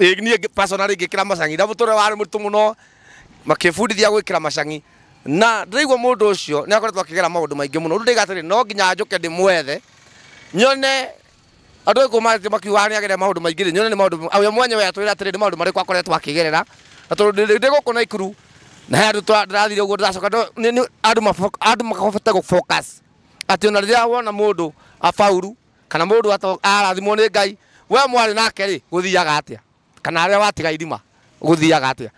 Ĩĩ niĩ ngĩ- personally ngĩkĩra macang'i na mũtũrĩre warĩ mũritũ mũno makĩbundithia gwĩkĩra macang'i na ndĩraigua mũndũ ũcio nĩ akoretwo akĩgera maũndũ maingĩ mũno rĩu ndaiga atĩrĩ no nginya njũke ndĩmwethe nyone andũ aingĩ marathiĩ makiugaga nĩ agerera maũndũ maingĩ rĩ nyone nĩ maũndũ awe mwenyewe atwĩra atĩrĩ nĩ maũndũ marĩkũ akoretwo akĩgerera na tondũ ndĩ- ndĩ gũkũ Naikuru na he andũ twa- ndĩrathire ũguo ndĩracoka ndo- nĩ- nĩ- andũ maboko- andũ mahote gũ focus atĩ ona rĩrĩa wona mũndũ abauru kana mũndũ ato- arathimwo nĩ ngai we mwarĩ nake rĩ gũthiaga atĩa kana arĩa watiga irima gũthiaga atĩa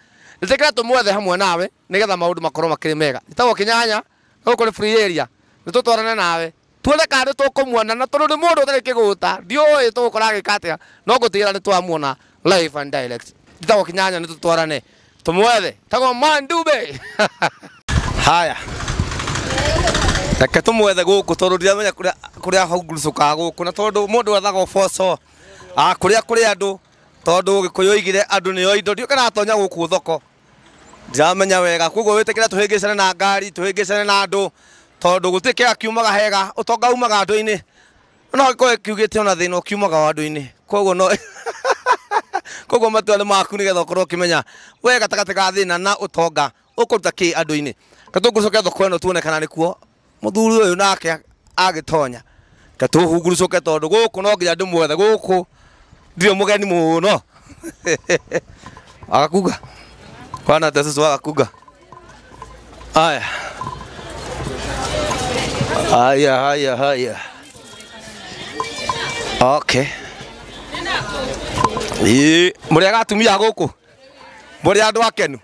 ĩtĩkĩra tũmwethe hamwe nawe nĩgetha maũndũ makorwo makĩrĩ mega itagwo kĩnyanya gũkũ nĩ free area nĩ tũtwarane nawe tuone kana nĩ tũkũmuona na tondũ nĩ mũndũ ũtarĩ kĩgũta ndiũĩ tũgũkora agĩka atĩa no ngũtigĩra nĩ twamuona live and direct itagwo kĩnyanya nĩ tũtwarane tumwethe tagwo mandube haya reke tumwethe gũkũ tondũ ndiramenya kũrĩa- kũrĩa hungurũcũkaga gũkũ na tondũ mũndũ ethaga ũboco ah, kũrĩa kũrĩ andũ tondũ gĩkũyũ oigire andũ nĩo indo ndiũka natonya gũkũ thoko ndiramenya wega koguo wĩtĩkĩre tũhĩngĩcane na ngari tũhĩngĩcane na andũ tondũ gũtirĩ kĩga kiumaga hega ũtonga umaga andũ-inĩ no akorwo kiugĩte ona thĩna ũkiumaga wandũ-inĩ koguo no koguo matua nĩ maku nĩgetha ũkorwo ũkĩmenya we gatagatĩ ga thĩna na ũtonga ũkũruta kĩ andũ-inĩ katũngũcoke thoko ĩno tuone kana nĩkuo mũthuri ũyũ nake agĩtonya katũhungurucoke tondũ gũkũ no nginya ndĩmuothe gũkũ ndirĩ mũgeni mũno agakunga kwana tesusu agakunga Haya, haya, haya, haya. Okay. Ii, Mũrĩ aga atumia gũkũ mũrĩ andũ akenu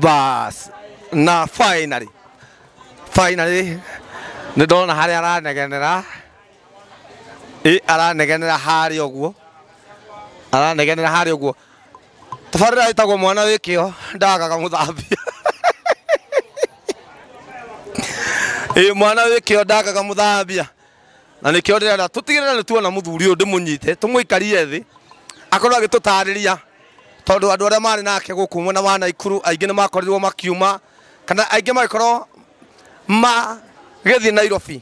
bas na finally finally nĩ ndona harĩa aranegenera Ĩ, aranegenera harĩa ũguo aranegenera harĩa ũguo tabarĩra ĩtagwo mwana wĩ kĩo ndagaga mũthambia ĩĩ mwana wĩ kĩo ndagaga mũthambia na nĩkĩo ndĩrenda tũtigĩrĩre nĩ tuona mũthuri ũyũ ndĩmũnyite tũmũikarie thĩ akorwo agĩtũtarĩria tondũ andũ arĩa marĩ nake gũkũ mwena wa naikuru aingĩ nĩ makorirwo makiuma kana aingĩ magĩkorwo magĩthiĩ nairobi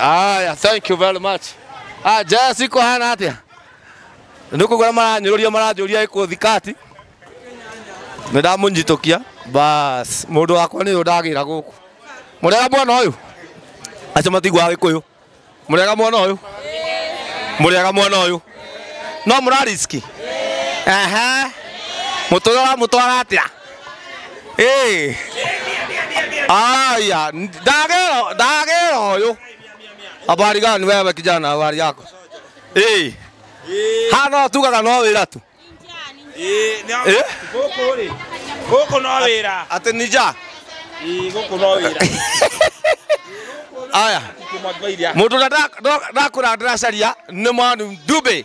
Aya, thank you very much. Ah, Jess iko hana atia. Nuko gora maranyururia maranjuria iko thikati. Nĩndamũnyitũkia. Bas, mũndũ wakwa nĩ ũndagĩra gũkũ. Mũrega mwana ũyũ. Acio matigwa gĩkũyũ. Mũrega mwana ũyũ. Mũrega mwana ũyũ. No mũrariski. Aha. Mũtũra mũtwara atĩa? Eh. Aya, dagero, dagero huyu. Habari gani wewe kijana, habari yako? Eh. Hana tu kaka no wira tu. Eh, na- Eh? Gũkũ rĩ, gũkũ no wĩra. Ate nija. Eh, gũkũ no wĩra. Aya. Kuma Gairia. Mũndũ ũrĩa ndakũra ndĩracaria nĩ mwandu Dube.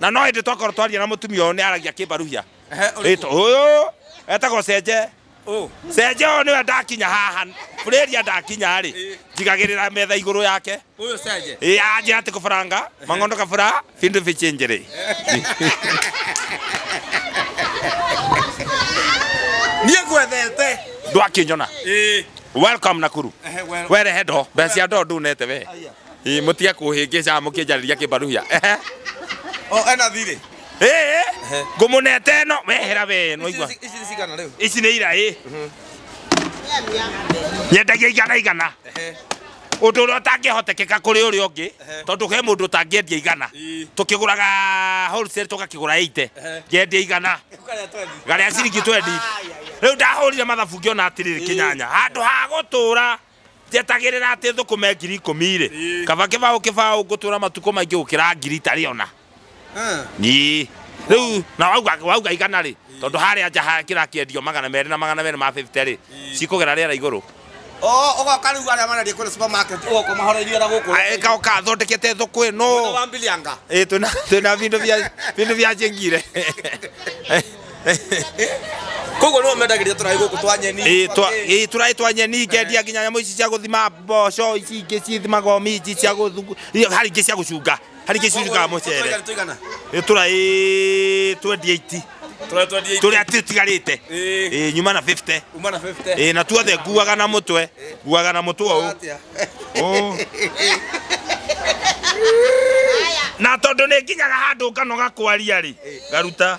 na no hĩndĩ twakorwo twaria na mũtumia ũyũ nĩ aragia kĩmbaruhia Rĩtwa- ũyũ etagwo cenje cenje ũyũ nĩwe ndakinya haha burĩria ndakinya rĩ njigagĩrĩra metha igũrũ yake Huyo Saje. Ĩ, anjĩra atĩ kũbaranga mang'ondo kabura bindu bichinjĩrĩ Niye gwethete. ndwakinyona Eh. welcome nakuru Ehe, well. werehe ndo mbeca cia ndo ndunete we Ii, mutige kuhingica mukinjariria kibaruhia ehe O ena thirĩ. ee ngumunete ĩno wehera we nwaigua Ici ici cigana rĩu. ici nĩ iraĩ nyendagia igana igana Ehe. ũndũ ũrĩa ũtangĩhotekeka kũrĩ ũrĩa ũngĩ tondũ he mũndũ ũtangĩendia igana Ii. tũkĩgũraga wholesale tũgakĩgũra ite Ehe. ngendia igana Ũkarĩa twendi. garĩa ciringi twendi rĩu ndahũrire mathabu ngĩona atĩrĩrĩ kĩnyanya handũ ha gũtũra Njetagĩrĩra atĩ thũkũme ngiri ikũmi irĩ kaba kĩbaũ kĩbaũ ngũtũra matukũ maingĩ gũkĩra ngiri itarĩ ona. Ii. Rĩu na wauga wauga igana rĩ tondũ harĩa nja ha kĩrakĩendio magana merĩ na magana merĩ ma 50 rĩ cikũgera rĩera igũrũ. Oo ũgoka rĩu arĩa marendia kũrĩa supermarket ũgoka ũmahoreirie na gũkũ. Ĩ, Ngoka thondekete thũkũ Mwena ĩno. wa Mbilianga. Ĩ, twĩna twĩna bindu bia bindu bia cingire. koguo nĩwe mendagĩria tũraĩ gũkũ twa nyeni Ĩĩ, twa- ĩĩ, tũraĩ twa nyeni ngendia nginya nyamũ ici cia gũthima mboco ici ingĩ cithimaga minji cia gũthungu iria- harĩ ingĩ cia gũcunga harĩ ingĩ cicungaga mũcere tũigana Ĩĩ, tũraĩ 28 tũraĩ twendia tũrĩa tũtigarĩte Ĩĩ. Ĩĩ, nyuma na 50 uma na 50 Ĩĩ, na tuothe nguaga na mũtwe nguaga na mũtwe ũũ Atĩa? Ũũ. na tondũ nĩ nginyaga handũ nganoga kwaria rĩ ngaruta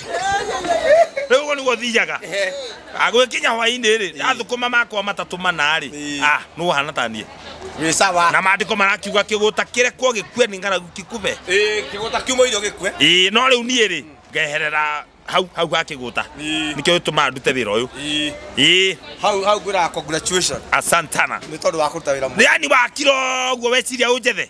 rä u gå niguo thiaga agwä kinya hwainä rä athå ma makwa matatå mana rä nä wahana taniä Ni sawa. na maandĩko marakiuga kĩgũta kĩrekwo gĩkue nĩ ng'aragu kĩkube Eh, kigota kiumo irio gikwe. ĩĩ no rĩu niĩ rĩ ngeherera hau hau ha kĩgũta Ĩĩ. nĩkĩo gĩtũmaga ndute wĩra ũyũ Ii. ĩĩ Hau hau ngwira congratulations. asantana Ni tondu wa kuruta wira mu. yani wakira ũguo weciria ũnjethe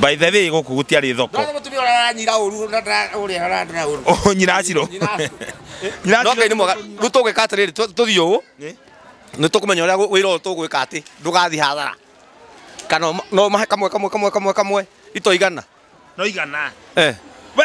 by the way gũkũ gũtiarĩ thoko Ndio mtumia yule ananyira uru na ule ananyira uru. Oh, nyiracirũ No ngai nĩ mwega. Rĩu tũgwĩka atĩrĩrĩ tũ- tũthiĩ ũũ. Nĩ? Nĩ tũkũmenya ũrĩa wĩra ũyũ tũgwĩka atĩ ndũgathiĩ hathara. Kana no mahe kamwe kamwe kamwe kamwe kamwe itoigana. no igana Eh. we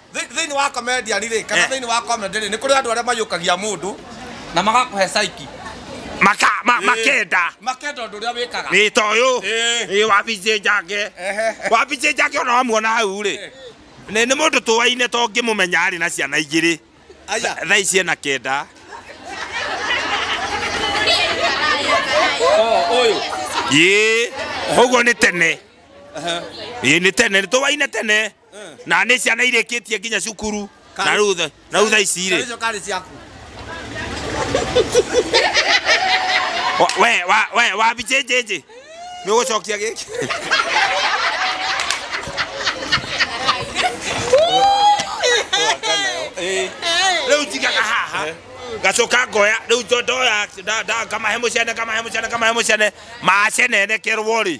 Thĩ- thĩinĩ wa comedian rĩ kana Eh. thĩinĩ wa comedy rĩ nĩ kũrĩ andũ arĩa mayũkagia mũndũ na magakũhe saiki maka ma- makenda makenda ũndũ ũrĩa wĩkaga ĩ ta ũyũ Ĩ. ĩ wabici njake Ehe. wabici njake ona wamuona hau rĩ Eh. nĩ nĩ mũndũ tũwaine to ngĩmũmenya arĩ na ciana igĩrĩ aya thaa ici ena kenda o ũyũ ĩ ũguo nĩ tene ĩ nĩ tene nĩ tũwaine tene na nä ciana irä kä tie nginya cukuru na rä u tha- na rä u tha ici rä Hizo kari ciaku. Wa- we wa- we wabi jĩnjĩnjĩ nĩ ũgũcokia gĩkĩ rĩu njigaga haha ngacoka ngoya rĩu njo- ndoya nda- nda- ngamahe mũcene ngamahe mũcene ngamahe mũcene macenenekerwo rĩ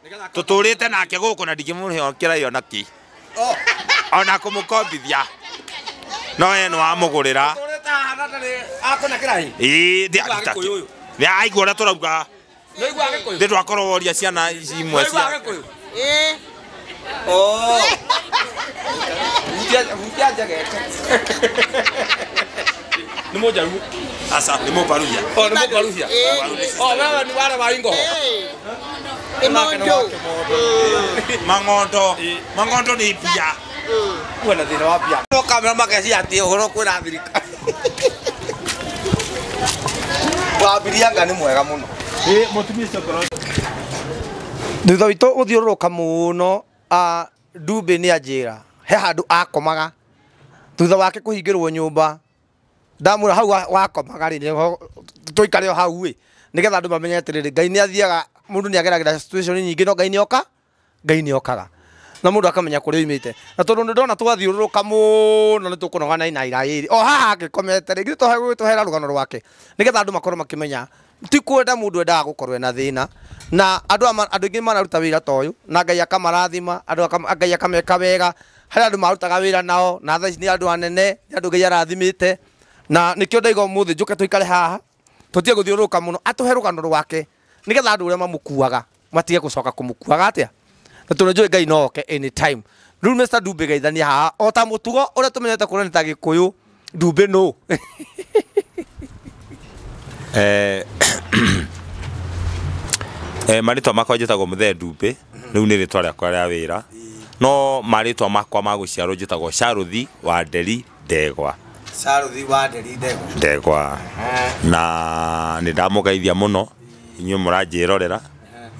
tũtũrĩte nake gũkũ na ndingĩmũhokera ĩyo na ki ona kũmũkombithia no ye nĩ wamũgũrĩra ĩĩ ndĩ aruta kĩ- Nĩ aigua ũrĩa tũrauga ndĩ twakorwo woria ciana ici imwe cia nä må njaru aca nĩ mũmbaruria nä må mbaruhia wewe nä wale wa ingoho Imondo. Mang'ondo. Mang'ondo ni mbia. Kuwe na thina wa mbia. No kamera mageci ati uhoro kwira thirikari. Wambiria nga ni mwega muno. Eh, mutumia ucio ngoro. Thutha witũ gũthiũrũrũka mũno a Ndumbĩ nĩ anjĩra he handũ akomaga thutha wake kũhingĩrwo nyũmba ndamwĩra hau wa- wakomaga rĩ nĩho tũikare o hau ĩ nĩgetha andũ mamenye atĩrĩrĩ ngai nĩ athiaga mũndũ nĩ ageragĩra situation nyingĩ no ngai nĩ oka ngai nĩ okaga na mũndũ akamenya kũrĩa oimĩte na tondũ nĩ ndona twathiũrũrũka mũno nĩ tũkũnogana na iraĩ o haha angĩkomete rĩ githĩ tũhe- tũhera rũgano rwake nĩgetha andũ makorwo makĩmenya ti kwenda mũndũ endaga gũkorwo ena thĩna na andũ ama- andũ aingĩ mararuta wĩra ta ũyũ na ngai akamarathima andũ akam- ngai akameka wega harĩ andũ marutaga wĩra nao na thaa ici nĩ andũ anene nĩ andũ ngai arathimĩte na nĩkĩo ndaiga ũmũthĩ njũke tũikare haha tũtige gũthiũrũrũka mũno atũhe rũgano rwake nĩgetha andũ ũrĩa mamũkuaga matige gucoka kumukuaga atia na tundu njui ngai no oke anytime riu Mr Dumbe geithania haha o ta mutugo uria tumenyete kuona ni ta gikuyu Dumbe no Eh, eh, marĩtwa makwa njĩtagwo mũthee ndumbĩ rĩu nĩ rĩtwa rĩakwa rĩa wĩra no marĩtwa makwa ma gũciarwo njĩtagwo sharuthi wa nderi ndegwa Saruthi wa nderi ndegwa. ndegwa na nä ndamũgeithia må no inyuä må ranjä rorera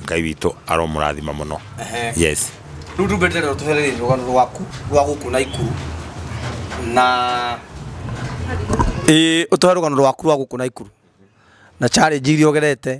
ngai witå aromå rathima må no Ehe. yes Rĩu ndungata ĩno tũhereire rũgano rwaku rwa gũkũ na ikuru na ĩĩ ũtũhe rũgano rwaku rwa gũkũ na ikuru na challenge iria ũgerete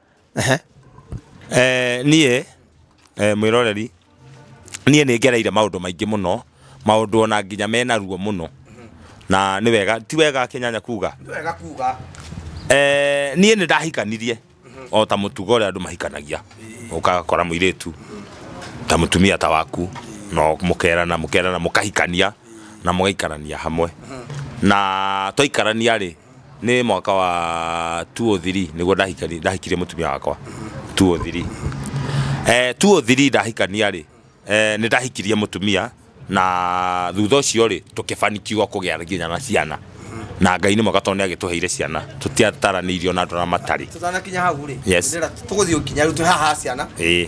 Niĩ mwĩroreri, niĩ nĩ ngereire maũndũ maingĩ mũno, maũndũ ona nginya mena ruo mũno, na nĩ wega, ti wega kĩnyanya kuga? Niĩ nĩ ndahikanirie o ta mũtugo ũrĩa andũ mahikanagia, ũgakora mũirĩtu ta mũtumia ta waku, na mũkerana mũkerana mũkahikania na mũgaikarania hamwe. Na twaikarania rĩ, Nĩ mwaka wa 203 nĩguo ndahikani- ndahikirie mũtumia wakwa 203 eh, 203 ndahikania rĩ eh, nĩ ndahikirie mũtumia na thutha ũcio rĩ tũkĩbanikiwa kũgĩa nginya na ciana na ngai nĩ mwaka tondũ nĩ agĩtũheire ciana tũtiataranĩirio na andũ arĩa matarĩ tũtanakinya hau rĩ Yes. tũgũthiĩ nginya rĩu twĩ haha ciana ĩĩ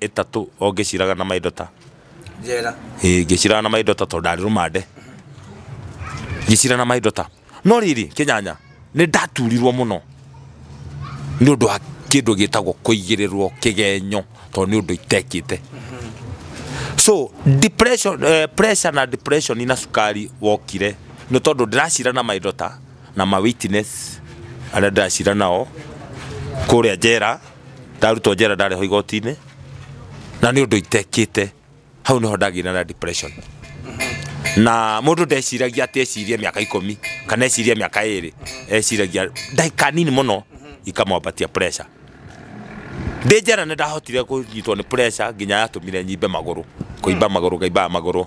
ĩtatũ o ngĩciraga na maindo ta njera Ĩĩ, ngĩciraga na maindo ta tondũ ndarĩ rũmande ngĩcira na maindo ta no rĩrĩ kĩnyanya nĩ ndaturirwo mũno nĩ ũndũ wa kĩndũ gĩtagwo kũigĩrĩrwo kĩgenyo tondũ nĩ ũndũ itekĩte so depression, eh, pressure na depression na cukari wokire nĩ tondũ ndĩracira na maindo ta na ma witness arĩa ndĩracira nao kũrĩa njera ndarutwo njera ndarĩ ho igoti-inĩ na nĩ ũndũ itekĩte hau nĩho ndagĩire na depression na mũndũ ndeciragia atĩ ecirie mĩaka ikũmi kana ecirie mĩaka ĩrĩ eciragia ndagĩka nini mũno ikamwambatia pressure ndĩ njera nĩ ndahotire kũnyitwo nĩ pressure nginya yatũmire nyimbe magũrũ kũimba magũrũ ngaimbaga magũrũ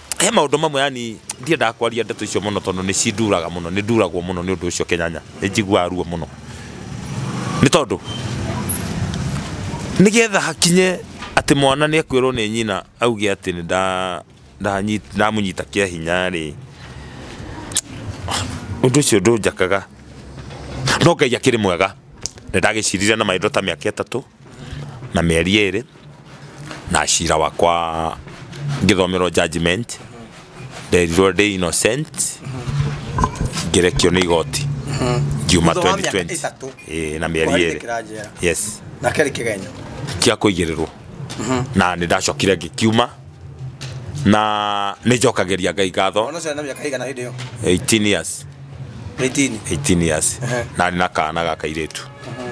he maũndũ mamwe yani ndiendaga kwaria ndeto icio mũno tondũ nĩ cinduraga mũno nĩ nduragwo mũno nĩ ũndũ ũcio kĩnyanya nĩ njiguaga ruo mũno nĩ tondũ nĩgetha hakinye atĩ mwana nĩ akwĩrwo nĩ nyina auge atĩ nĩ nda- ndanyi- ndamũnyita kĩa hinya rĩ ũndũ ũcio ndũnjakaga no ngai akĩrĩ mwega nĩ ndagĩcirire na maitho ta mĩaka ĩtatũ na mĩeri ĩrĩ na cira wakwa ngĩthomerwo judgment nderirwo ndĩ innocent ngĩrekio nĩ igoti ngiuma Thutha wa mĩaka 2020 ĩtatũ. Ĩĩ, na mĩeri ĩrĩ Kũrarĩkĩra njera. yes Na kerĩ kĩgenyo. cia kũigĩrĩrwo na nĩ ndacokire ngĩkiuma na nä njokagäria ngai ngatho Ona ũcio arĩ na mĩaka ĩigana hĩndĩ ĩyo? 18 years 18. 18 years Ehe. na nä na kana ga kairä tu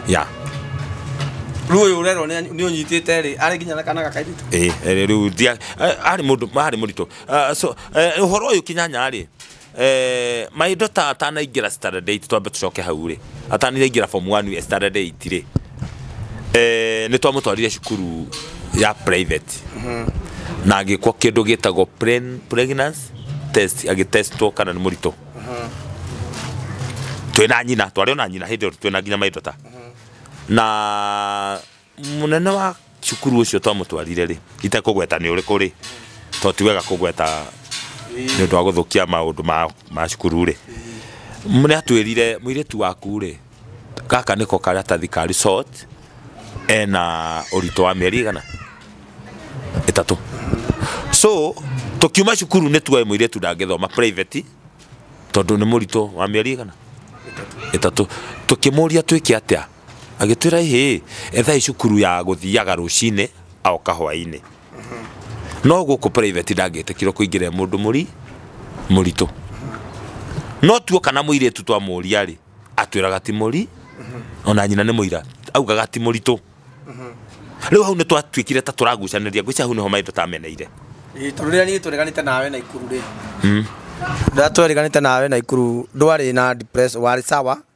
ya Rĩu ũyũ ũrerwo nĩ nĩ ũnyitĩte rĩ, arĩ nginya na kana gakairĩtu. rä u arä må ndå arä må ritå å horo å yå kinyanya rä Eh, maitho ta atanaingĩra standard 8 twambe tũcoke hau rĩ atanaingĩra form 1 ya standard 8 rĩ eh, nĩ twamũtwarire cukuru ya private na agĩkwo kĩndũ gĩtagwo pren- pregnancy test agĩtestwo kana nĩ mũritũ twĩna nyina twarĩ ona nyina hĩndĩ ĩyo twĩna nginya maitho ta na Mũnene wa cukuru ũcio twamũtwarire-rĩ, itekũgweta nĩ ũrĩkũ-rĩ, tondũ ti wega kũgweta nĩ ũndũ wa gũthũkia maũndũ ma cukuru-rĩ, nĩ atwĩrire, mũirĩtu waku-rĩ, gaka nĩko karatathi ka result, ena ũritũ wa mĩeri ĩigana? ĩtatũ. So tũkiuma cukuru nĩ tuoĩ mũirĩtu ndangĩthoma private tondũ nĩ mũritũ wa mĩeri ĩigana? ĩtatũ. Tũkĩmũria twĩke atĩa? Agĩtwĩra ĩhĩĩ, ethai cukuru ya gũthiaga rũcinĩ a oka hwainĩ. No gũkũ private ndangĩtĩkirwo kũingĩra e mũndũ mũri mũritũ. No tuoka na mũirĩtu twamũria rĩ, atwĩraga ti mũri, ona nyina nĩ mũira, augaga ti mũritũ. Rĩu hau nĩ twatuĩkire ta tũragucanĩria, ngwĩciria hau nĩho maitũ tũtameneire. Ĩĩ tondũ rĩrĩa niĩ twereganĩte nawe Naikuru rĩ, rĩrĩa twereganĩte nawe Naikuru ndwarĩ na depressed, warĩ sawa.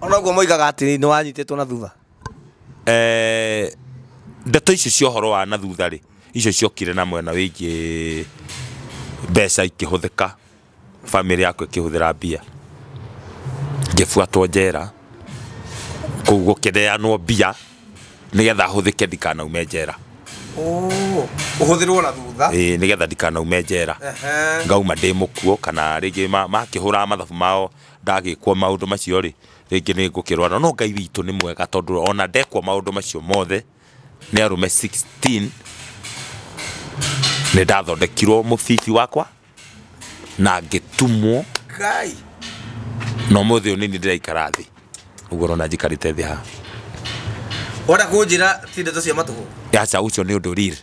Ona ũguo moigaga atĩ nĩ wanyitĩtwo na thutha. Eh, ndeto icio cia ũhoro wa na thutha rĩ icio ciokire na mwena wĩgiĩ mbeca ikĩhũthĩka famĩlĩ yakwa ĩkĩhũthĩra mbia ngĩbuatwo njera kũu gũkĩneanwo mbia nĩgetha hũthĩke ndikanaume njera Oh, ũhũthĩrwo na thutha. Ĩĩ, nĩgetha ndikanaume njera Ehe. ngauma ndĩ mũkuo kana rĩngĩ ma- makĩhũraga mathabu mao ndagĩkwo maũndũ macio rĩ, rĩngĩ nĩ ngũkĩrwara. No no Ngai witũ nĩ mwega tondũ ona ndekwo maũndũ macio mothe nĩ arũme 16 nĩ ndathondekirwo mũbibi wakwa na ngĩtumwo Ngai. Na ũmũthĩ ũyũ nĩ niĩ ndĩraikara thĩ. Ũguo ũrona njikarĩte thĩ haha. Wenda kũnjĩra ti ndeto cia matũhũ? Aca ũcio nĩ ũndũ real.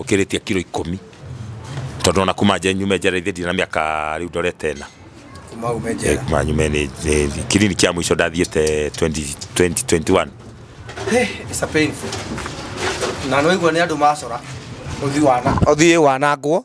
Ũkĩrĩtie kiro ikũmi tondũ ona kuma nje nyume njera ithe ndirĩ na mĩaka rĩu ndorete ĩna kuma ume njera kuma nyume nĩ nĩ- kiriniki ya mũico ndathiĩte 20 2021 Eh, it's a painful na nĩwaigua nĩ andũ macora ũthi wana ũthiĩ wanangwo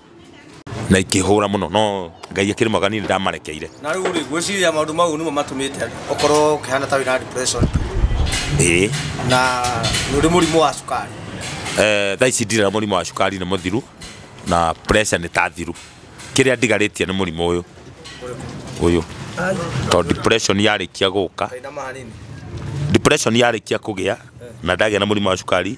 na ikĩhũra mũno no ngai akĩrĩ mwega niĩ ndamarekeire na rĩu rĩ gwĩciria maũndũ mau nĩmo matũmĩte ũkorwo ũkĩhana ta wĩna depression ĩĩ na nĩ ũrĩ mũrimũ wa cukari Eh, thaa ici ndirĩ na mũrimũ wa cukari nĩ mũthiru na pressure nĩ ta thiru kĩrĩa ndigarĩtie nĩ mũrimũ ũyũ ũyũ tondũ depression yarĩkia gũka kainama hanini depression yarĩkia kũgĩa na ndagĩa na mũrimũ wa cukari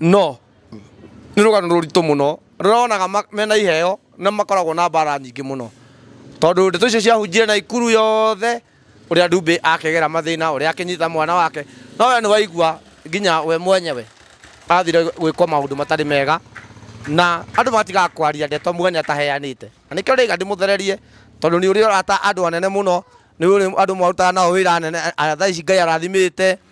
No nĩ rũgano rũritũ mũno rũrĩa wonaga ma- mena iheo na makoragwo na mbara nyingĩ mũno tondũ ndeto icio ciahunjire naikuru yothe ũrĩa ndumbĩ akegera mathĩna ũrĩa akĩnyita mwana wake no we nĩ waigua nginya we mwenyewe athire gwĩkwo maũndũ matarĩ mega na andũ matigaga kwaria ndeto muge nĩ ataheanĩte na nĩkĩo ndĩiga ndĩmũthererie tondũ nĩ ũrĩ arata andũ anene mũno nĩ ũrĩ andũ mwarutaga nao wĩra anene a- thaa ici ngai arathimĩte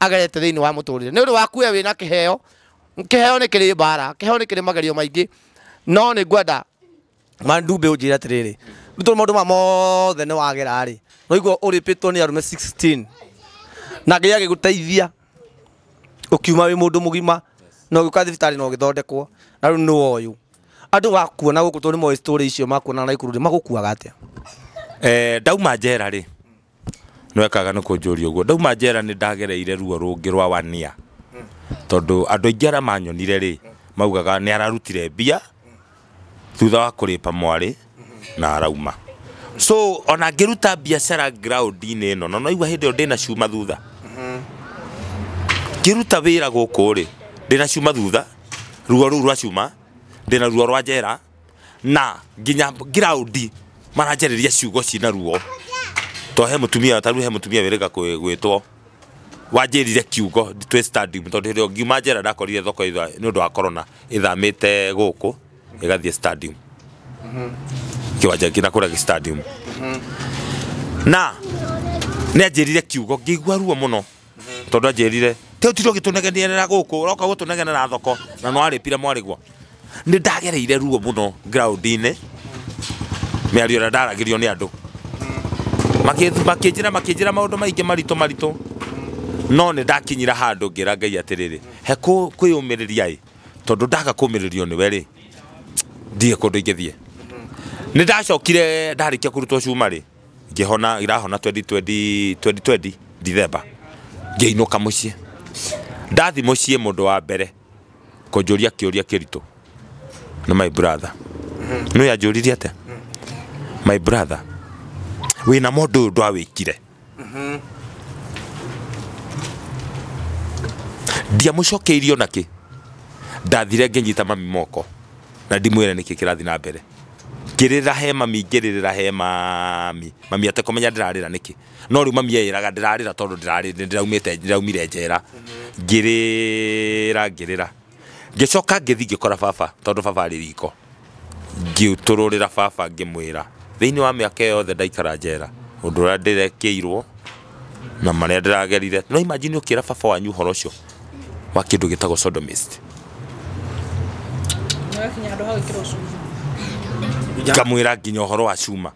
agerete thĩinĩ wa mũtũrĩre nĩ ũndũ waku we wĩna kĩheo kĩheo nĩ kĩrĩ mbara kĩheo nĩ kĩrĩ magerio maingĩ no nĩ ngwenda mandumbĩ ũnjĩre atĩrĩrĩ nĩ tondũ maũndũ ma mothe nĩ wagera rĩ noigua ũrĩpĩtwo nĩ arũme 16 na ngai agĩgũteithia ũkiuma wĩ mũndũ mũgima na ũgĩũka thibitarĩ na ũgĩthondekwo na rĩu nĩ woyũ andũ wakuona gũkũ tondũ nĩ moĩ story icio makuona na ikuru rĩ magũkuaga atĩa Eh, ndauma njera rĩ No ekaga nĩ kũnjũria ũguo. Ndauma njera nĩ ndagereire ruo rũngĩ rwa one year. Tondũ andũ aingĩ arĩa manyonire rĩ, maugaga nĩ ararutire mbia thutha wa kũrĩpa mwarĩ na arauma. So ona ngĩruta biacara ground inĩ ĩno, na nĩ ũraigua hĩndĩ ĩyo ndĩna cuma thutha. Ngĩruta wĩra gũkũ rĩ, ndĩna cuma thutha, ruo rũu rwa cuma, ndĩna ruo rwa njera, na nginya ground maranjarĩria ciugo cina ruo to he mutumia taru he mutumia wĩrĩga kwĩ- gwĩtwo wanjĩrire kiugo twĩ stadium tondũ hĩndĩ ĩyo ngiuma njera ndakorire thoko itha nĩ ũndũ wa corona ĩthamĩte gũkũ ĩgathiĩ stadium kĩwanja kĩna kũrĩa gĩ stadium na nĩ anjĩrire kiugo ngĩigua ruo mũno tondu anjirire te utiro gitunegenierera guku uroka gutunegenera thoko na no aripire mwarigwa ni ndagereire ruo muno ground ini miario na ndaragirio ni andu makinjira makinjira maundu maingi maritu maritu no ni ndakinyira handu ngira ngai atiriri he kwiyumiriria i tondu ndaga kumiririo ni weri ndie kundu ingithie ni ndacokire ndarikia kurutwo cuma ri ngĩhona irahona 2020 2020 December ngĩinũka mũciĩ ndathi mũciĩ mũndũ wa mbere kũnjũria kĩũria kĩritũ nĩ my brother nĩ yanjũririe atĩa my brother wĩna mũndũ ũyũ ndwawĩkire ndiamũcokeirio nakĩ ndathire ngĩnyita mami moko na ndimwĩre nĩkĩ kĩrathi na mbere Ngĩrĩra he mami ngĩrĩrĩra he mami, mami atekũmenya ndĩrarĩra nĩkĩ. No rĩu mami eyĩraga ndĩrarĩra tondũ ndĩraumĩte ndĩraumire njera. Ngĩrĩra ngĩrĩra, ngĩcoka ngĩthiĩ ngĩkora baba tondũ baba arĩ riko, ngĩtũrũrĩra baba ngĩmwĩra, thĩinĩ wa mĩaka ĩyo yothe ndaikara njera, ũndũ ũrĩa ndĩrekĩirwo, na marĩa ndĩragerire no imagine ũkĩra baba wanyu ũhoro ũcio wa kĩndũ gĩtagwo sodomist Nĩwakinya handũ ha gwĩkĩrwo cuma. kamwĩra nginya ũhoro wa cuma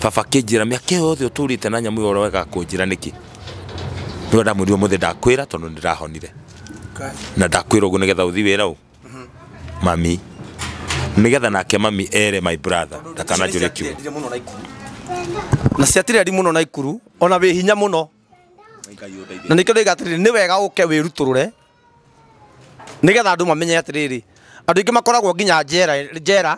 baba kĩnjĩra mĩaka ĩyo yothe ũtũrĩte na nyamũ ĩyo ũroega kũnjĩra nĩkĩ nĩwe ndamwĩrire mũthĩ ndakwĩra tondũ nĩndĩrahonire na ndakwĩra ũguo nĩgetha ũthi wĩra ũ mami nigetha nake mami ere my brother ndakananjũre kiugo Ciatirĩrĩire mũno na ikuru na ciatirĩri mũno na ikuru ona wĩ hinya mũno na nĩkĩo ndĩga atĩrĩrĩ nĩ wega ũke wĩrutũrũre nĩgetha andũ mamenye atĩrĩrĩ andũ aingĩ makoragwo nginya njera njera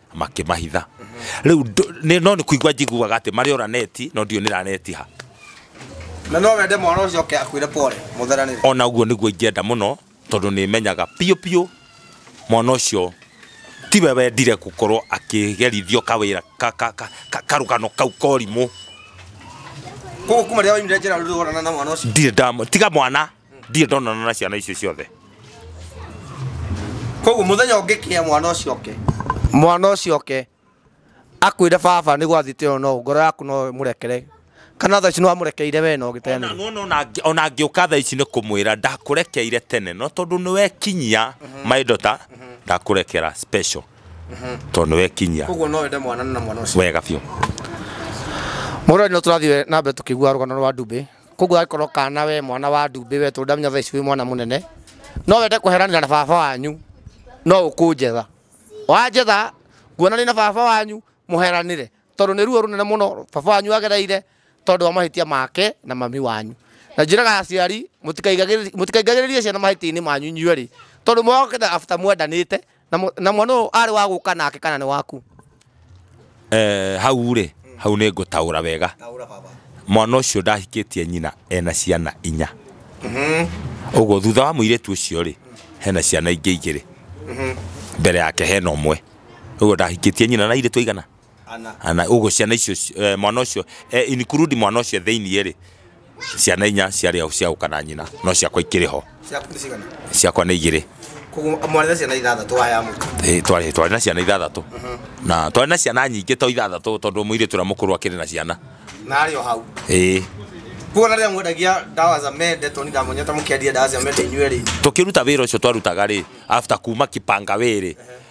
makĩmahitha rĩu ndũ- nĩ- no nĩ kũigua njiguaga atĩ marĩ ora neti no ndiũ nĩranetiha na no wende mwana ũcio oke akwĩre pole mũtheranĩre ona ũguo nĩguo ingĩenda mũno tondũ nĩ menyaga piũ piũ mwana ũcio tiwe wendire gũkorwo akĩgerithio kawĩra ka- ka- ka- ka- karũgano kau korimũ koguo kuma rĩrĩa waimire njĩra rĩu ũrona na mwana ũcio ndirĩ ndamũ tiga mwana ndirĩ ndonana na ciana icio ciothe koguo muthenya ũngĩkĩa mwana ũcio oke mwana ũcio oke akwĩre baba nĩ gwathĩte ĩyo no ngoro yaku no mũrekere kana thaa ici nĩ wamũrekeire we no gĩteanĩro Nuona ona ngĩ- ona ngĩũka thaa ici nĩ kũmwĩra ndakũrekeire tene no tondũ nĩ wekinyia maindota ndakũrekera special tondũ nĩ wekinyia koguo no wende mwana na mwana ũcio wega biũ mũrũ nĩ tũrathiĩ na mbere tũkĩigua rũgano rwa ndumbĩ koguo angĩkorwo kana we mwana wa ndumbĩ we tondũ ndamenya thaa ici wĩ mwana mũnene no wende kũheranĩra na baba wanyu no ũkũnjetha wanjetha nguona nĩ na baba wanyu mũheranĩre tondũ nĩ ruo rũnene mũno baba wanyu agereire tondũ wa mahĩtia make na mami wanyu na njĩraga aciari mũtikaigagĩrĩrie mũtikaingagĩrĩrie ciana mahĩtia-inĩ manyu inyuerĩ tondũ mwokĩte after mwendanĩte Na mũ- na mwana ũyũ arĩ wa gũka nake kana nĩ waku Eh, hau rĩ hau nĩ ngũtaũra wega mwana ũcio ndahikĩtie nyina ena ciana inya ũguo thutha wa mũirĩtu ũcio rĩ hena ciana ingĩ igĩrĩ mbere yake hena ũmwe ũguo ndahikĩtie nyina na irĩtu aigana Ana. ana uguo ciana icio ci- eh, mwana ucio eh, include mwana ucio thiini ri ciana inya ciari au cia uka na nyina no ciakwa ikiri ho Ciaku nĩ cigana? ciakwa nĩ igĩrĩ Koguo mwarĩ na ciana ithathatũ waya mũka. Ĩ, twarĩ twarĩ na ciana ithathatũ na twarĩ na ciana nyingĩ to ithathatũ tondũ mũirĩtu ũrĩa mũkũrũ akĩrĩ na ciana Na arĩ o hau. ĩ Koguo na rĩrĩa mwendagia ndawa za mende tondũ ndamonyete mũkĩendia ndawa cia mende inyuerĩ. tũkĩruta wĩra ũcio twarutaga rĩ after kuma kipanga wĩrĩ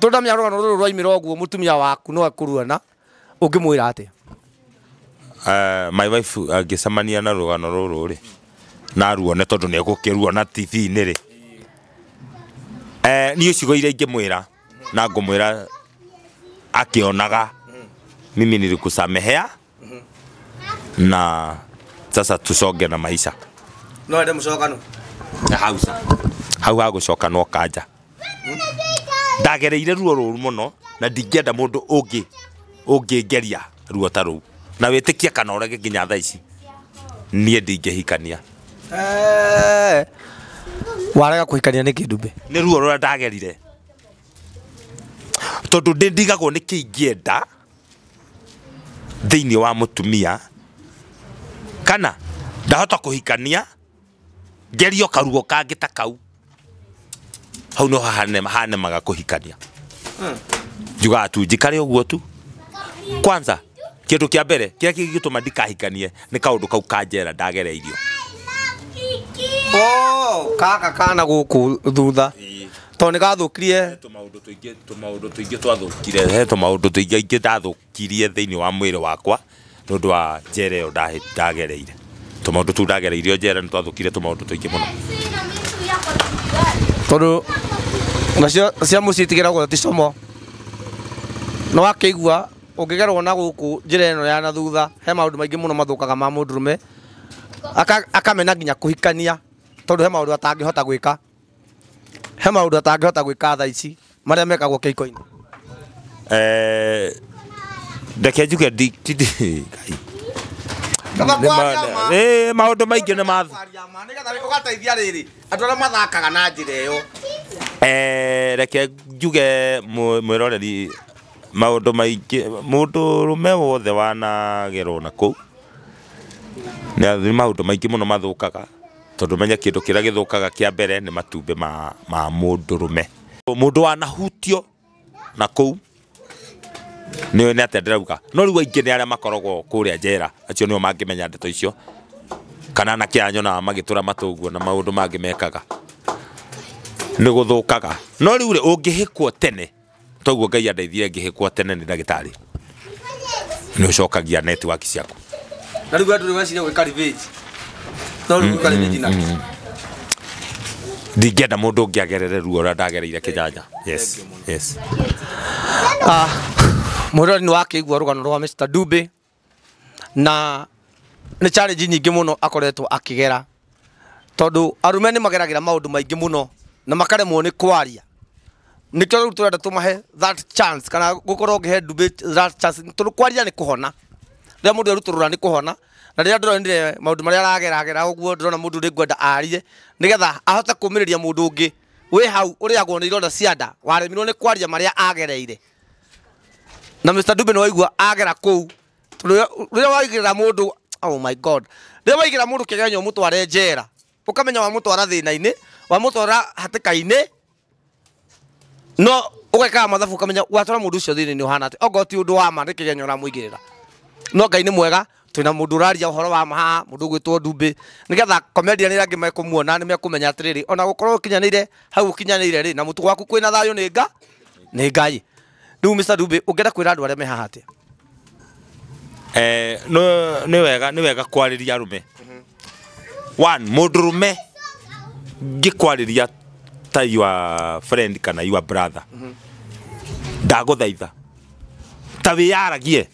tondamya rũgano rũrũ rwaimĩra ũguo mũtumia waku no akũruana ũngĩmwĩra atĩa Eh, my wife angĩcemania na rũgano rũrũ rĩ naruone tondũ nĩ egũkĩruona tv-inĩ rĩ Eh, niĩ ciugo iria ingĩmwĩra na ngũmwĩra akĩonaga mimi nilikusamehea na sasa tusonge na maisha no ende mucokano na hau sa hau hagũcoka no kanja ndagereire ruo rũru mũno na ndingĩenda mũndũ ũngĩ ũngĩngeria ruo ta rũu na wĩtĩkie kana ũrege nginya thaa ici niĩ ndingĩhikania Eh, warega kuhikania nä kä ndumbe nĩ ruo rũrĩa ndagerire tondũ ndĩ ndigagwo nĩ kĩingĩenda thĩinĩ wa mũtumia kana ndahota kũhikania ngerio karugo kangĩ ta kau hau no hahane- hanemaga kũhikania njugaga tu njikare ũguo tu kwanza kĩndũ kĩa mbere kĩrĩa kĩngĩtũma ndikahikanie nĩ kaũndũ kau kanjera ndagereirio Oh, kaka kana gũkũ thutha tondũ nĩ gathũkirie tũmaũndũ tũingĩ tũmaũndũ tũingĩ twathũkire he tũmaũndũ tũingĩ ingĩ ndathũkirie thĩinĩ wa mwĩrĩ wakwa nĩ ũndũ wa njera ĩyo ndahe- ndagereire tũmaũndũ tũu ndagereirio njera nĩ twathũkire tũmaũndũ tũingĩ mũno tondũ nacio cia mũciĩ itigeragwo ti como nĩ wakĩigua ũngĩgerwo na gũkũ njĩra ĩno ya na thutha he maũndũ maingĩ mũno mathũkaga ma mũndũrũme Aka- akamena nginya kũhikania tondũ he maũndũ atangĩhota gwĩka he maundu atangihota gwika tha ici maria mekagwo kikoini eh ndeke njuge ndi ti ndi- Nĩma- eh maundu maingi ni ma ugateithia riri andu aria mathakaga na njira iyo eh reke njuge mũ- mwĩroreri maundu maingi mundu rume wothe wanagerwo na kuu nĩ maundu maingi mũno mathũkaga Tondũ menye kĩndũ kĩrĩa gĩthũkaga kĩa mbere nĩ matumbĩ ma, ma mũndũrũme. Mũndũ wanahutio na kũu nĩ nĩ atĩa ndĩrauga no rĩu aingĩ nĩ arĩa makoragwo kũrĩa njera acio nĩo mangĩmenya ndeto icio kana anake aya nyonaga magĩtũra matũ ũguo na maũndũ mangĩ mekaga nĩ gũthũkaga no rĩu rĩ ũngĩhĩkwo tene toguo ngai andeithie ngĩhĩkwo tene nĩ ndagĩtarĩ nĩ ũcokagia netiwaki ciaku na rĩu andũ nĩ meciria gwĩka revenge no rĩu gwĩka revenge na ndingĩenda mũndũ ũngĩ agerere ruo ũrĩa ndagereire kĩnyanya yes yes mũrori nĩ wakĩigua rũgano rwa Mr. Dube na nĩ challenge nyingĩ mũno akoretwo akĩgera tondũ arume nĩ mageragĩra maũndũ maingĩ mũno na makaremwo nĩ kwaria nĩkĩo rĩu tũrenda tũmahe that chance kana gũkorwo ngĩhe ndumbĩ that chance tondũ kwaria nĩ kũhona rĩrĩa mũndũ erutwo rũra nĩ kũhona na rĩrĩa ndĩronire maũndũ marĩa arageragera ũguo ndĩrona mũndũ ũrĩ ngwenda arie nĩgetha ahote kũmĩrĩria mũndũ ũngĩ wĩ hau ũrĩagwo nĩ ironda cia nda waremirwo nĩ kwaria marĩa agereire na Mr Dube nĩ waigua agera kũu Tondũ rĩrĩa waigĩrĩra mũndũ oh my god rĩrĩa waigĩrĩra mũndũ kĩgeranyo ũmũtware njera ũkamenya wamũtwara thĩna-inĩ wamũtwara hatĩka-inĩ no ũgekaga mathabu ũkamenya watwara mũndũ ũcio thĩna-inĩ ũhana atĩa ongorwo ti ũndũ wa ma nĩ kĩgeranyo ũramũigĩrĩra no Ngai nĩ mwega twina mundu uraria uhoro wa maha mundu gwitwo ndumbi nigetha komendia ni rangi mekumuona ni mekumenya atiriri ona gukorwo kinyanire hau kinyanire ri na mutu gwaku kwina thayo ni nga ni ngai riu Mr Ndumbi ungenda kwira andu aria mehaha atia eh no ni wega ni wega kwariria rume one mundu rume ngikwariria ta your friend kana your brother ndaguthaitha ta wiyaragie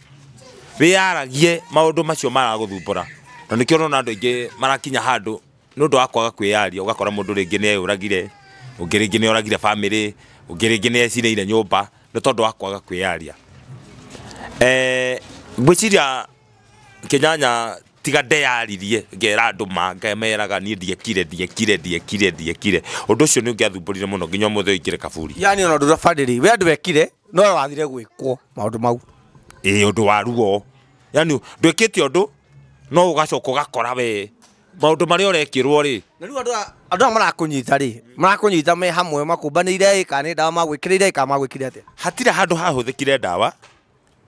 wĩyaragie maũndũ macio maragũthumbũra na nĩkĩo ũrona andũ aingĩ marakinya handũ nĩ ũndũ wa kwaga kwĩyaria ũgakora mũndũ rĩngĩ nĩ eyũragire ũngĩ rĩngĩ nĩ oragire bamĩrĩ ũngĩ rĩngĩ nĩ ecinĩire nyũmba nĩ tondũ wa kwaga kwĩyaria eh, ngwĩciria kĩnyanya tiga ndeyaririe ngera andå ma ngameraga niä ndiekire ndiekire ndiekire ndiekire å ndå å cio nä å ngä athumbå rire må no nginya må thä å ingä re kaburi yani ona ndå rabarä we andå wekire no wathire gwĩkwo maũndũ mau ĩ ũndũ wa ruo yani ndwĩkĩte ũndũ no ũgacoka ũgakora we maũndũ marĩa ũrekĩrwo rĩ na rĩu andũ aya- andũ aya marakũnyita rĩ marakũnyita me hamwe makũmbanĩire ĩ kana nĩ ndawa magwĩkĩrĩire ĩ kana magwĩkire atĩa hatira handũ hahũthĩkire ndawa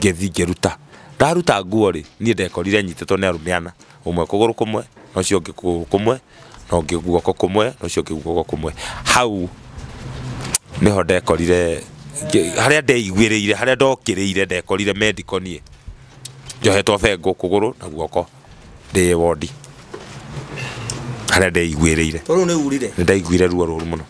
Ngĩthiĩ ngĩruta. Ndaruta nguo-rĩ, niĩ ndekorire nyitĩtwo nĩ arũme ana, ũmwe kũgũrũ kũmwe, na ũcio ũngĩ kũgũrũ kũmwe, na ũngĩ guoko kũmwe, na ũcio ũngĩ guoko kũmwe. Hau nĩho ndekorire, harĩa ndeiguĩrĩire, harĩa ndokĩrĩire ndekorire mendiko niĩ, njohetwo bengũ kũgũrũ na guoko ndĩ wondi, harĩa ndeiguĩrĩire. Nĩndaiguire ruo rũru mũno.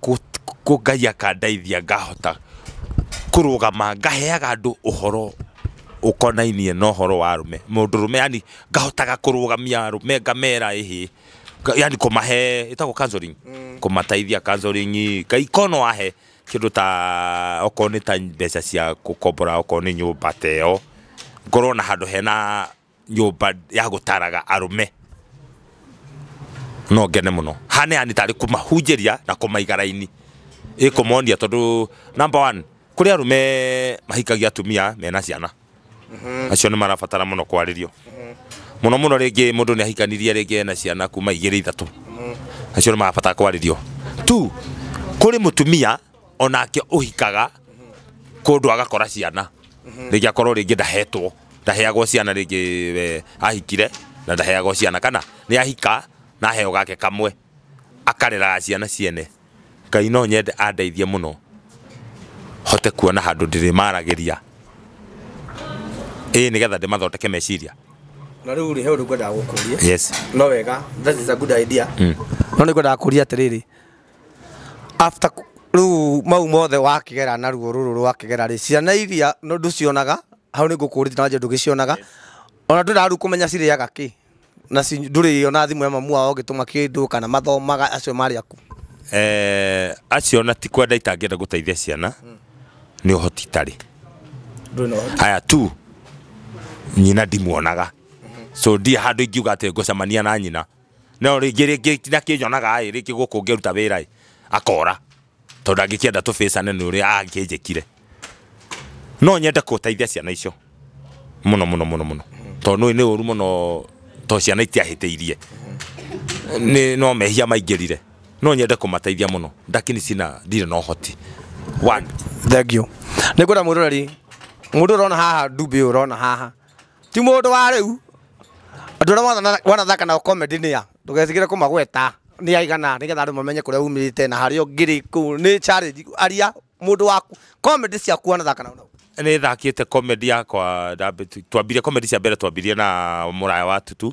kũ Ngai akandeithia ngahota kũrũgama ngaheaga andũ ũhoro ũkonainie na ũhoro wa arũme, mũndũrũme yaani ngahotaga kũrũgamia arũme ngamera ĩhĩ, yaani kũmahe ĩtagwo counselling? kũmateithia counselling Ngai korwo no ahe kĩndũ ta okorwo nĩ ta mbeca cia gũkombora okorwo nĩ nyũmba ta ĩyo, ngorwo na handũ hena nyũmba ya gũtaraga arũme no ngene mũno haneani tarĩ kũmahunjĩria na kũmaiga raini ĩkũmonia tondũ number one kũrĩ arũme mahikagia atumia mena ciana acio nĩ marabatara mũno kwarĩrio mũno mũno rĩngĩ mũndũ nĩ ahikanirie rĩngĩ ena ciana kuma igĩrĩ ithatũ acio nĩ marabatara kwarĩrio tu kũrĩ mũtumia onake uhikaga kundu agakora ciana ringi akorwo ringi ndahetwo ndaheagwo ciana ringi eh, ahikire na ndaheagwo ciana kana ni ahika na aheo gake kamwe akareraga ciana ciene ngai no nyende andeithie muno hote kuona handu ndirimaragiria ĩĩ nĩgetha ndĩmathondeke meciria na rĩu rĩ he ũndũ ngwendaga gũkũria yes no wega that is a good idea no nĩ ngwendaga kũria atĩrĩrĩ after ku- rĩu mau mothe wakĩgera naruo rũrũ rwakĩgera rĩ ciana iria no ndũcionaga hau nĩ ngũkũrĩte na njĩra ndũgĩcionaga ona ndũrĩ rĩu kũmenya cirĩaga kĩ na ci- ndũrĩ ona thimũ ya mamu wao ũgĩtũma kĩndũ kana mathomaga acio marĩ aku eh, acio na ti kwenda itangĩenda gũteithia ciana nĩ ũhoti itarĩ aya tu nyina ndimuonaga so ndiä handå ingiuga atä ngåcemania na nyina no rĩngĩ rĩngĩ na kĩnyonaga ĩ rĩngĩ gũkũ ngĩruta wĩra ĩ akora tondũ ndangĩkĩenda tũbĩcane nĩ ũrĩa angĩnjĩkire no nyende gũteithia ciana icio mũno mũno mũno mũno tondũ nĩ nĩ ũru mũno tondũ ciana itiahĩtĩirie nĩ no mehia maingĩrire no nyende kũmateithia mũno ndakini cina ndirĩ na ũhoti One. thengiũ nĩ ngwenda mũndũ ũreri mũndũ ũrona haha ndumbĩ ũyũ ũrona haha ti mũndũ wa rĩu andũ arĩa wana- wanathaka nao comedy nĩa ndũgetigĩre kũmagweta nĩ aigana nĩgetha andũ mamenye kũrĩa umĩte na harĩa ũngĩrĩ kũu nĩ challenge aria mũndũ waku comedy ciaku wanathaka nao nao nä thakite comedy yakwa ndambi- twambire comedy cia mbere twambirie na må raya wa tutu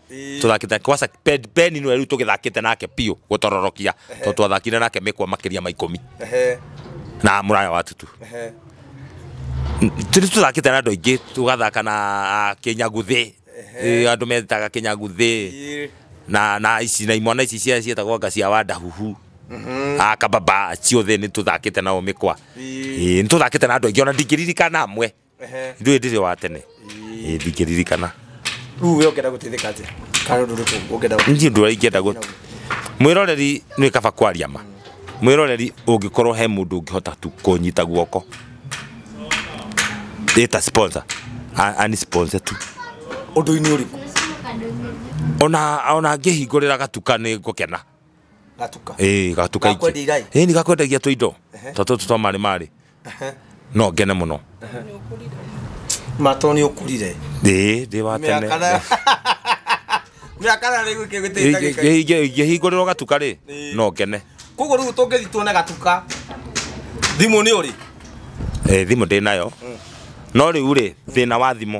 tuthakite kwasa Ben Ben nwe riu tugithakite nake piu gutororokia to twathakire nake mikwa makiria ma ikumi Ehe, na muraya wa tutu ehe. tiri tuthakite na andu aingi tugathaka na kinyaguthi andu metaga kinyaguthi Ii. na na ici na imwana ici cia cietagwo nga cia wanda huhu a kababa ciothe nä tå thakite nao mä kwa Ii. nä tå thakite na andå aingä ona ndingä ririkana amwe ithuĩ ndirĩ wa tene Ĩĩ, ndingĩririkana rĩu we ũngĩenda gũteithĩka atĩa kana ũndũ ũrĩkũ ũngĩenda gũteithĩka? niĩ ũndũ ũrĩa ingĩenda gũ mwĩroreri nĩ kaba kwaria ma mwĩroreri ũngĩkorwo he mũndũ ũngĩhota tu kũnyita guoko ĩta sponsor a- ani sponsor tu ũndũ-inĩ ũrĩkũ ona ona ngĩhingũrĩra gatuka nĩ ngũkena gatuka ĩĩ gatuka ingĩ Gakwendia irai? ĩĩ nĩ gakwendagia tũindo ta tũtũ twa marĩ marĩ no ngene mũno matoni ukurire ĩĩ ndĩ wa tene miakana miakana riu kigitita ingĩhingũrĩrwo gatuka rĩ Ĩĩ. no ngene koguo riu tungithi tuone gatuka thimu ni uri Ĩĩ, thimũ ndĩ nayo no rĩu rĩ thĩna wa thimũ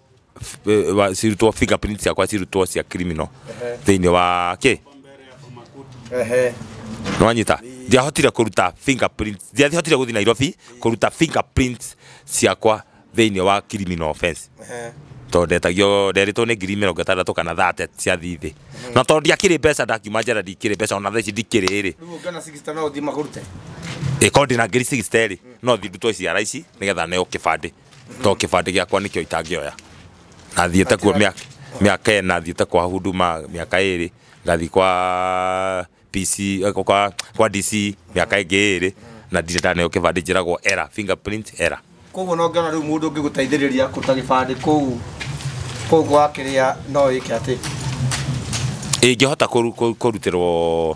wa cirutwo fingerprint ciakwa cirutwo cia criminal thĩinĩ wa kĩ Ehe. nwanyita ndiahotire kũruta fingerprint ndiahotire gũthiĩ nairobi kũruta fingerprint ciakwa thĩinĩ wa criminal offense Ehe. tondũ ndetagio nderĩtwo nĩ ngiri mĩrongo ĩtandatũ kana thate cia thithi na tondũ ndiakĩrĩ mbeca ndakiuma njara ndikĩrĩ mbeca ona thaa ici ndikĩrĩ rĩ Rĩu ũngĩona 60 no ũthiĩ makũrute. ĩkorwo ndĩna ngiri cigiciterĩ no thiĩ ndutwo ciara ici nĩgetha neo kĩbandĩ to kĩbandĩ gĩakwa nĩkĩo itangĩoya na thiĩte kuo mĩaka mĩaka ĩna thiĩte kwa huduma mĩaka ĩrĩ ngathi kwa PC eh, kwa, kwa DC mĩaka ĩngĩ ĩrĩ na ndirĩ ndaneo kĩbandĩ njĩragwo era fingerprint era koguo no ngĩona rĩu mũndũ ũngĩgũteithĩrĩria kũruta gĩbandĩ kũu kũu gwakĩrĩa no wĩke atĩ ingĩhota kũru- kũ- kũrutĩrwo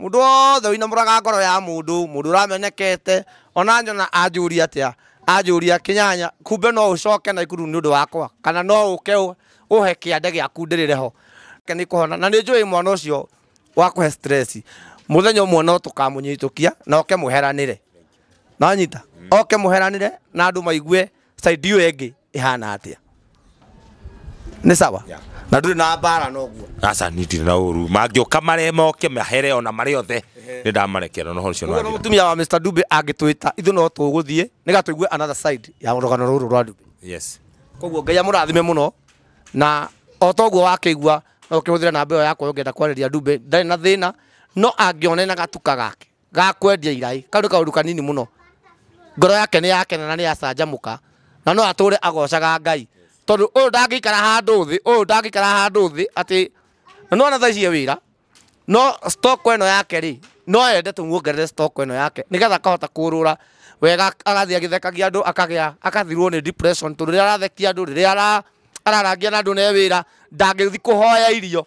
Mũndũ wothe ũinamũraga ngoro ya mũndũ, mũndũ ũramenekete, ona nyona anjũria atĩa, anjũria kĩnyanya, kumbe no ũcoke na ikuru nĩ ũndũ wakwa, kana no ũke ũhe kĩande gĩaku ndĩrĩre ho. Nĩ kũhona, na nĩ njũĩ mwana ũcio wakũhe stress, mũthenya ũmwe no tũkamũnyitũkia na oke mũheranĩre. Nĩ wanyita? Oke mũheranĩre na andũ maigue side ĩyo ĩngĩ ĩhana atĩa nĩ sawa Yeah. na ndũrĩ na mbara noguo aca nitire na ũru mangĩũka marĩa moke mahere ona marĩ othe nĩ ndamarekera noho ũcio Ũguo no nĩwathira. mũtumia wa Mr. Dube angĩtwĩta ithuĩ no tũgũthiĩ nĩgetha tũigue another side ya rũgano rũrũ rwa Dube yes koguo ngai amũrathime mũno na o ta ũguo wakĩigua no ũkĩhũthĩre namba ĩyo yakwa ũngĩenda kwarĩria Dube ndarĩ na thĩna no angĩone na gatuka gake ga kwendia iraĩ, kau nĩ kaũndũ kanini mũno, ngoro yake nĩ yakena na nĩ yacanjamũka, na no atũre agocaga Ngai, tondũ ũyũ ndangĩikara handũ thĩ, ũyũ ndangĩikara handũ thĩ atĩ, na nĩ wona thaa ici e wĩra, no stock ĩno yake rĩ, no ende tũmuongerere stock ĩno yake, nĩgetha akahota kũrũra wega agathiĩ agĩthekagia andũ akagĩa, agathirwo nĩ depression tondũ rĩrĩa arathekia andũ, rĩrĩa ararangia na andũ na e wĩra, ndangĩthiĩ kũhoya irio.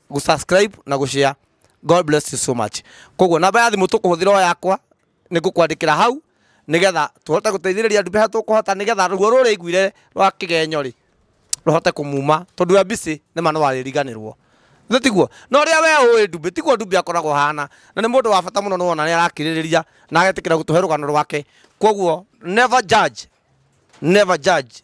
gũsubscribe na gũshare god bless you so much koguo namba ya thimũ tũkũhũthĩra o yakwa nĩ ngũkwandĩkĩra hau nĩgetha tũhote gũteithĩrĩria andũ beha tũkũhota nĩgetha ruo rũrĩa iguire rwa kĩgenyo rĩ rũhote kũmuma tondũ ya mbicĩ nĩ ma no arĩriganĩrwo nĩ tiguo na ũrĩa we ũĩ ndumbĩ tiguo ndumbĩ akoragwo hana na nĩ mũndũ wa bata mũno nĩwona nĩ arakirĩrĩria na agetĩkĩra gũtũhe rũgano rwake koguo never judge never judge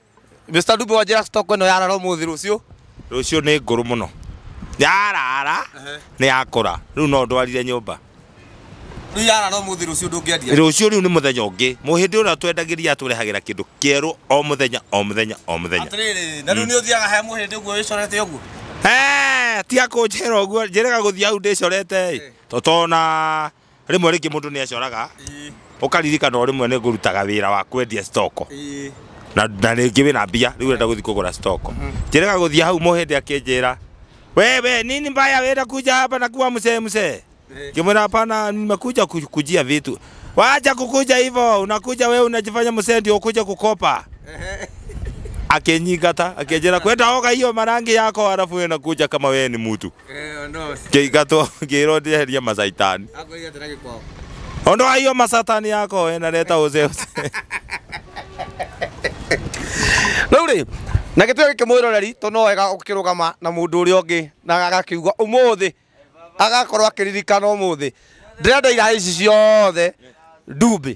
Mr. Dube wa njĩra stock ĩno yarara ũmũthĩ rũciũ rũciũ nĩ ngũrũ mũno yarara nĩ yakũra rĩu no ndwarire nyũmba rĩu yarara ũmũthĩ rũciũ ndũngĩendia rũciũ rĩu nĩ mũthenya ũngĩ mũhĩndĩ ũrĩa twendagĩria atũrehagĩra kĩndũ kĩerũ o mũthenya o mũthenya o mũthenya atĩrĩrĩ na rĩu nĩ ũthiaga he mũhĩndĩ ũguo wĩcorete ũguo Eh, tiga kũnjĩra ũguo njĩraga gũthiĩ hau ndĩcorete ĩ totona rĩmwe rĩngĩ mũndũ nĩ acoraga ũkaririkana o rĩmwe nĩ ngũrutaga wĩra wa kwendia stoko na na rĩngĩ wĩna mbia rĩu ũrenda gũthiĩ kũgũra stoko njĩrĩga gũthiĩ hau mũhĩndĩ akĩnjĩra we we nini mbaya wĩra kuja hapa na kuwa msee msee ngĩmwĩra hapana nimekuja ku- kujia vitu wacha kukuja hivyo unakuja wewe unajifanya msee ndio ukuja kukopa akĩnyingata akĩnjĩra kwenda oga hiyo marangi yako halafu wewe unakuja kama wewe ni mtu Eh, no. kĩingatwo ngĩrwo ndĩeherie macaitani Akwĩrire atĩ na gĩkwao. Ondo ayo masatani yako we na leta uze uze. rĩu rĩ na gĩtwe gĩkĩ mwĩroreri tondũ no wega ũkĩrũgama na mũndũ ũrĩa ũngĩ na agakiuga ũmũthĩ agakorwo akĩririkana ũmũthĩ ndĩrenda iraĩ ici ciothe ndumbĩ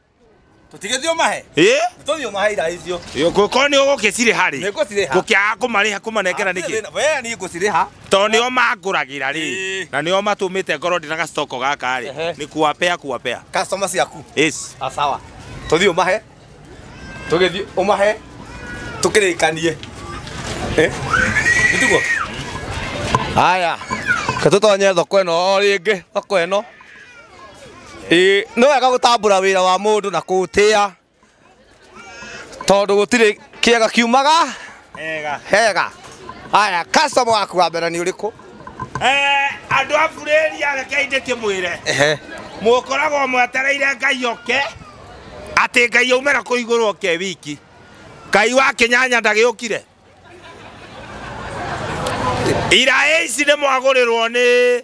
Tutigethio mahe. ĩ Tuthio mahe ira icio. korwo nĩ ũgũgĩcirĩ harĩ Nĩngũcirĩha. ngũkĩaga kũmarĩha kũmanengera nĩkĩ Wee ni ngũcirĩha. tondũ nĩo mangũragĩra rĩ Ĩĩ. na nĩo matũmĩte ngorwo ndĩ na gacitoko gaka rĩ Ehe. nĩ kuwapea kuwapea Customer ciaku. Yes. Ah, sawa. Tuthio umahe. Tugethio umahe. Tukirikanie. Eh? Nitugo. Haya. Katutonye thoko ĩno o rĩngĩ, thoko ĩno. Ĩĩ, nĩ wega gũtambũra wĩra wa mũndũ na kũũtĩa tondũ gũtirĩ kĩega kiumaga hega haya customer waku wa mbere nĩ ũrĩkũ andå a burä rekei ndä kä mwä re Ehe. må koragwo mwetereire ngai oke atä ngai aumä ra kå igå rå oke wiki ngai wa kä nyanya ndagä å kire iraä ici nä mwagå rä rwo nä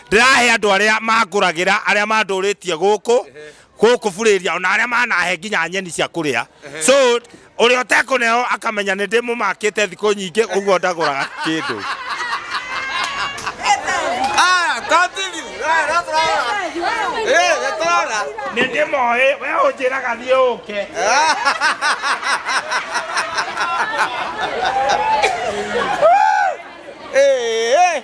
Ndĩrahe andũ arĩa mangũragĩra, arĩa mandũrĩtie gũkũ, gũkũ Burĩria, ona arĩa manahe nginya nyeni cia kũrĩa. So, ũrĩa ũtekũneho akamenya nĩ ndĩmũmakĩte thikũ nyingĩ, ũguo ndagũraga kĩndũ. Aya, continue. Aya, no tũrarora. Eh, nĩ tũrarora. Nĩ ndĩmoĩ, we ũnjĩraga thiĩ ũke. Eh, eh.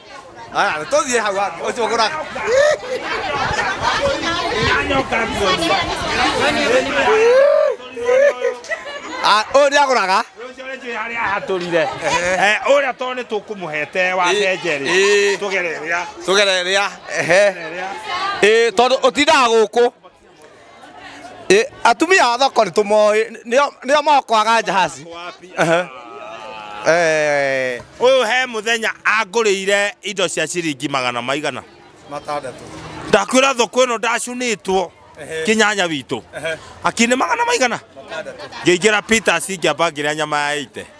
Ũyũ nĩ agũraga. harĩa hatũrire å rä a tondå nä tå kå må hete wa ndenjerä Ĩĩ. tå gereria Tũgereria. Ehe. Ĩĩ, Tondũ ũtindaga gũkũ. Ĩ, atumia a thoko nĩ tũmoĩ nĩo- nĩo mokwaga njahaci Ehe. Eh, Ũyũ he mũthenya angũrĩire indo cia ciringi magana maigana. matandatũ Ndakwĩra thoko ĩno ndacunĩtwo kĩnyanya witũ. Akĩnĩ magana maigana. Ngĩingĩra Peters ngĩamba ngĩrĩa nyama ya ite.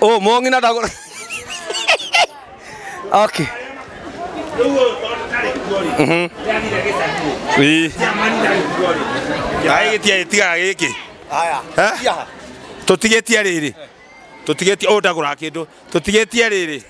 oh mongina ndagura okay Mhm. Ii. Ai gĩtiarĩ tiga gĩkĩ Eh? tũtigĩtie rĩrĩ tũtigĩtie ũndagũra kĩndũ tũtigĩtie rĩrĩ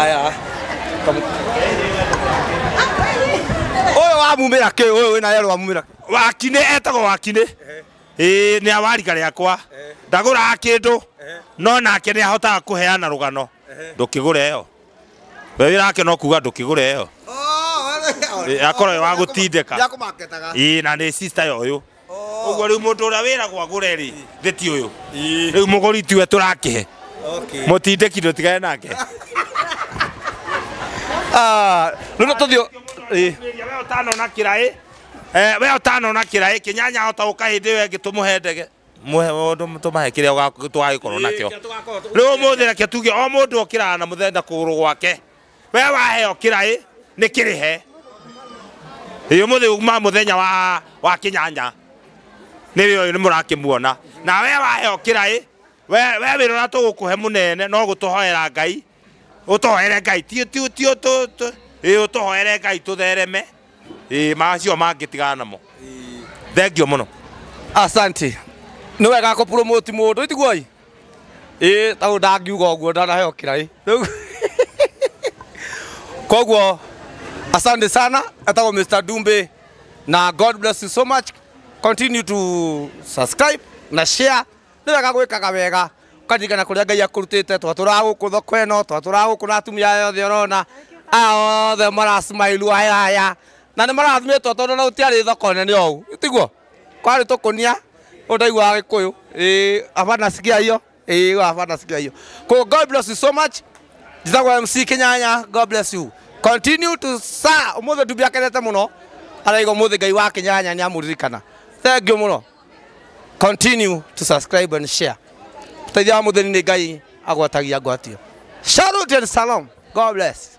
aya uyu wamumira ki uyu wina yero wamumira ki wakine etagwo wakine ĩĩ nĩ awarika rĩakwa ndagũraga kĩndũ no nake nĩ ahotaga kũheana rũgano ndũkĩgũre ĩyo we wĩra wake no kuga ndũkĩgũre ĩyo Ĩĩ, akorwo ĩ wa gũtindĩka ĩĩ na nĩ sister ya ũyũ Ũguo rĩu mũndũ ũrĩa wĩragwo agũre-rĩ, githĩ ti ũyũ? Rĩu mũgũri tiwe tũrakĩhe. Mũtindĩki ndũtigane nake. Ah, Rĩu no tũthiĩ ĩ. Mĩria we ũtanona kĩraĩ eh, we ũtanona kĩraĩ kĩnyanya hota ũka hĩndĩ ĩyo ĩngĩ tũmũhe ndege mũhe mũndũ tũmahe kĩrĩa ũga- tũgagĩkorwo nakĩo rĩu ũmũthĩ reke tuge o mũndũ okĩraga na mũthenya kũgũrũ gwake we waheo kĩraĩ nĩ kĩrĩhe ĩ ũmũthĩ uma mũthenya wa, wa kĩnyanya nĩwe ũyũ nĩ mũrakĩmuona na we waheo kĩraĩ we we wĩra ũrĩa tũgũkũhe mũnene no gũtũhoera ngai ũtũhoere ngai ti ti ti ũtũ- tũ- ĩ ũtũhoere ngai tũthereme ĩ macio mangĩtigana namo thengio mũno asante nä wega kå promote må ndå itiguoi ĩ tau ndangiuga ũguo ndanaheo kĩraĩ Rĩu- koguo asante sana etagwo mr dumbe na god bless you so much continue to subscribe na share nĩ wega gwĩkaga wega ũkaririkana kũrĩa ngai akũrutĩte twatũraga gũkũ thoko ĩno twatũraga gũkũ na atumia aya othe ũrona aya othe marasmailua haya na nĩ marathimĩtwo tondũ na gũtiarĩ thoko nene ũũ tiguo kwarĩ tũkũnia ũyũ ndaiguaga gĩkũyũ ĩĩ haba nasikia hiyo ĩĩ haba nasikia hiyo Ko- god bless you so much njĩtagwo mc kinyanya god bless you continue to sir ũmũthĩ ndumbia akenete mũno araiga ũmũthĩ ngai wa kinyanya nĩ amũririkana thengio mũno continue to subscribe and share ũteithia wa mũthĩni nĩ ngai agwatagia ngwatio Salute and salam god bless